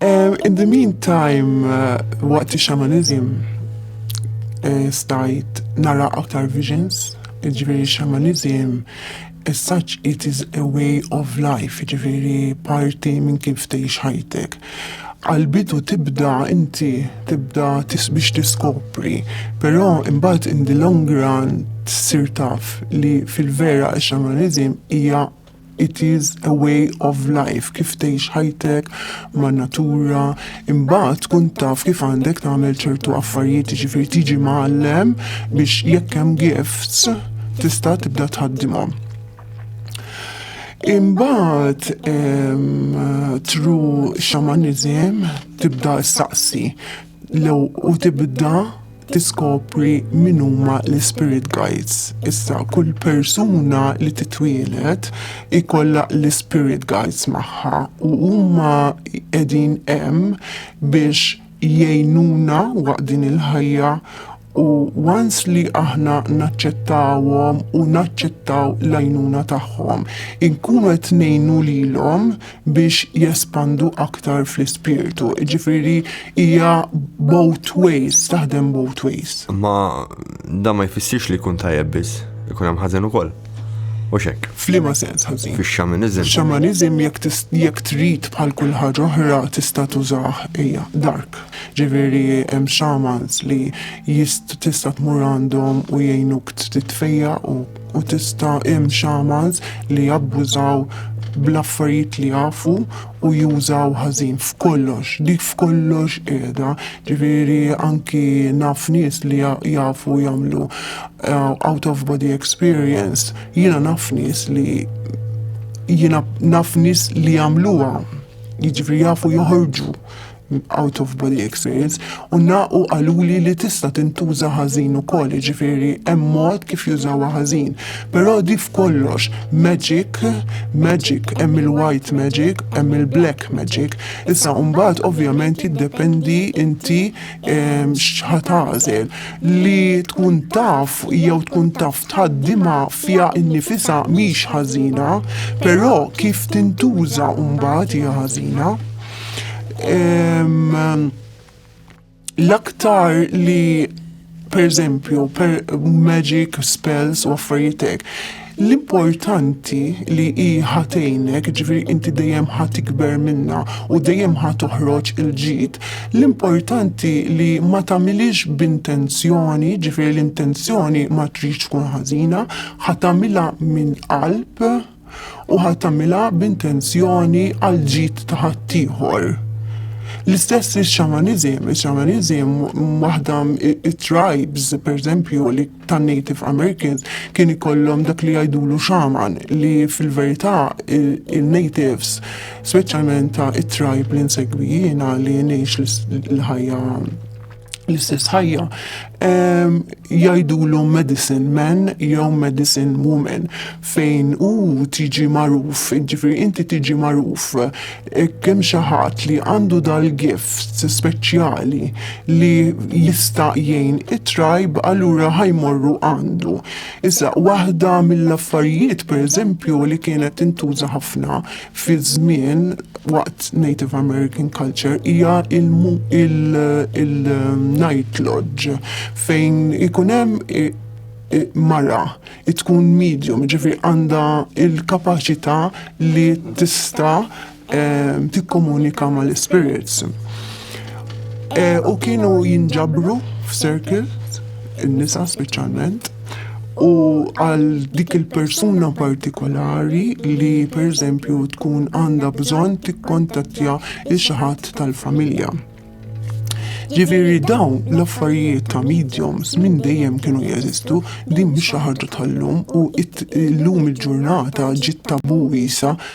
Um, in the meantime, uh, waqt uh, xamanizm, uh, stajt nara aktar visions, ġveri xamanizm, as such it is a way of life, ġveri parti minn kif tgħix ħajtek. Għalbidu tibda inti, tibda tis biex tiskopri, pero imbagħad in the long run tsir taf li fil-vera xamanizm hija It is a way of life kif tgħix ħajtek ma' natura, imbagħad tkun taf kif għandek tagħmel ċertu affarijiet jiġifieri tiġi mgħallem biex jekk hemm gifts tista' tibda tħaddimhom. Imbagħad tru xamanism tibda saqsi Lew u tibda tiskopri min huma l-spirit guides. Issa kull persuna li titwielet ikollha l-spirit guides magħha u huma qegħdin hemm biex jgħinuna waqt din il-ħajja U once li aħna naċċettawhom u naċċettaw l-għajnuna tagħhom, inkunu qed ngħinu lilhom biex jespandu aktar fl-ispirtu. Ġifieri hija both ways, taħdem both ways. Ma dan ma jfissirx li jkun tajjeb biss, ikun hemm ħażen ukoll. U xek. Flima sens ħażin. Fix xamanizm. Xamanizm jekk trid bħal kull ħaġa oħra tista' tużah hija dark. Ġifieri hemm xamans li jist tista' tmur għandhom u jgħinuk titfejjaq u u tista' hemm xamans li jabbużaw bl-affarijiet li jafu u jużaw ħażin f'kollox, dik f'kollox qiegħda. Ġifieri anki naf nies li jafu jagħmlu eh, out of body experience, jiena naf nies li jiena naf nies li jagħmluha. Jiġifieri jafu joħorġu out of body experience, u naqu għaluli li tista tintuża ħażin u koll, ġifiri, mod kif jużawa ħażin. Pero di f'kollox, magic, magic, hemm il-white magic, hemm il-black magic. Issa umbat ovvjament jiddependi inti ehm, xħatazel li tkun taf jew tkun taf tħaddima fija innifisa miex ħażina, pero kif tintuża umbat hija ħażina. L-aktar li per eżempju, per magic spells u affarijietek, L-importanti li hi ħatejnek, ġifiri inti dejjem ħat ikber minna u dejjem ħat toħroġ il-ġid. L-importanti li ma tagħmilix b'intenzjoni, ġifiri l-intenzjoni ma tridx tkun ħażina, ħat tagħmilha minn qalb. u ħa tagħmilha b'intenzjoni għall-ġid ta' ħaddieħor. L-istess ix-xamaniżim, ix-xamaniżim waħda it-tribes, pereżempju, li tan-Native Americans kien ikollhom dak li jgħidulu xaman li fil-verità il-natives, speċjalment ta' it-tribe li nsegwi jiena li ngħix l-ħajja l-istess ħajja ehm, jajdulhom medicine man jew medicine woman fejn u tiġi magħruf, ġifieri inti tiġi magħruf e, kemm xi ħadd li għandu dal-gift speċjali li jista' jgħin it-trajb allura ħajmorru għandu. Issa waħda mill-affarijiet pereżempju li kienet intuża ħafna fi żmien waqt Native American culture hija il-night lodge fejn ikun hemm mara tkun medium, ġifri għandha il-kapaċità li tista' ehm, tikkomunika mal-spirits. Eh, u kienu jinġabru f'circle, in-nisa speċjalment, u għal dik il-persuna partikolari li per eżempju tkun għandha bżonn tikkontattja il xaħat tal-familja. Ġifieri dawn l-affarijiet ta' mediums minn dejjem kienu jeżistu din mhix xi ħaġa tal-lum u llum il-ġurnata ġiet tabu wiesa